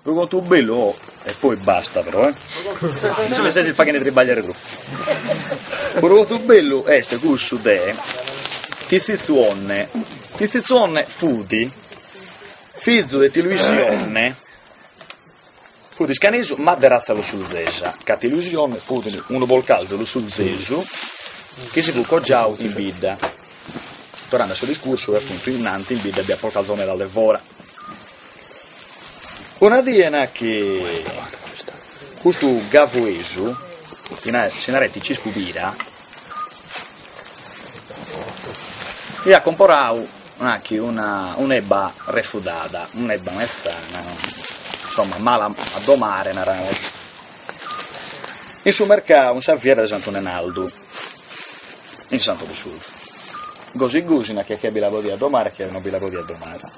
Unu contu bellu oh, e poi basta però, eh. Mi seis faghende tribagliare troppo. Unu contu bellu est cussu de ti Tzitzu Onne. Ti Tzitzu Onne fut fizu de Tiluisionne, fut iscanesu ma de ratza lussulzesa, ca ti Luisi Onne fut unu polcalzu lussulzesu chi si fut cogiau in bidda. Torrende a su discursu, e appuntu innanti in bidda b'hiat polcalzos medas de fora, Una die nachi custu gavuesu, chi si nareit Ciscu Pira, iat comporau nachi una un'ebba refudada, un'ebba mezzana insomma mala a domare, naraimus, in su mercadu, in sa fiera de Santu Nenaldu. in Santu Lussulzu. Gosi gosi nachi chi bi la podiat domare e chi no bi la podiat domare,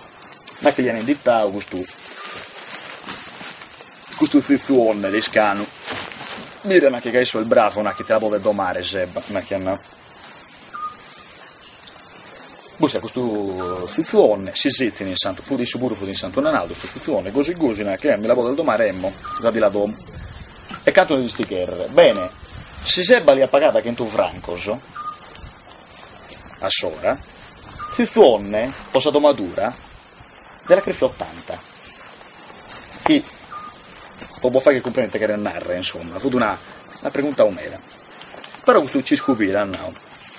nachi li an inditadu custu custu Tzitzu Onne de Iscanu, mira nachi ca issu est bravu nachi ti la podet domare s'ebba, nachi an nau. Buscat custu Tzitzu Onne, si setzin in Santu, fut issu puru fut in Santu Nenaldu custu Tzitzu Onne, gosi gosi nachi, mi la podes domare? Emmo, za ti la domo. E cantu nde disti cherrer? Bene, si s'ebba l'hiat pagada chentu francos a s'ora, Tzitzu Onne, po sa domadura, nde l'at crefiu ottanta, chi po bos fagher cumprender ite cheret narrer, insomma, fut una una preguntau meda. Però custu Ciscu Pira at nau,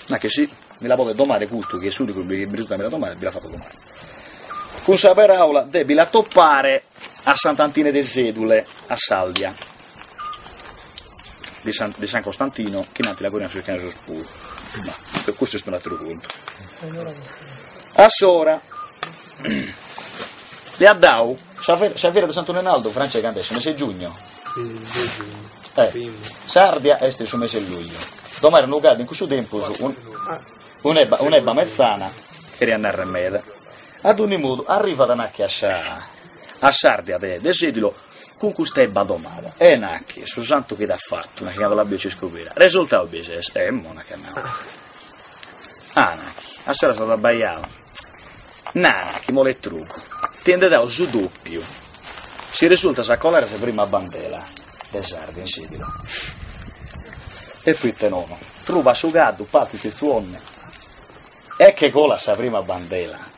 Ma che si mi la podet domare custu chi est s'unicu chi mi resultat a mi la domare, bi la fato domare. Cun sa peraula de bi la topare a Sant'Antine de Sedule, a s'Aldia. de san de san Costantino chi innanti la currian sos iscanesos puru ma custu est un'atteru contu a s'ora li at dau sa, sa fiera de Santu Nenaldu Francè cand'est su mese giugno eh, s'Ardia est in su mese luglio domare unu caddu in cussu tempus un, un'ebba, un'ebba mezzana cheriat narrer meda ad ogni modu arrivat nachi a sa a s'Ardia de, de Sedilo Cun custa ebba domada, E nachi, su santu chi t'at fatu, nachi cando l'at biu Ciscu Pira, resurtau bi ses? Emmo nachi at nau, Ah, nachi, a s'ora s'at abbaiau, Na, nachi, moletrugu, ti nde dao su dopiu, si resurtas a colare sa prima bandela de s'Ardia in Sedilo. E proite nono? Trubat su caddu, partit Tzitzu Onne e che colat sa prima bandela.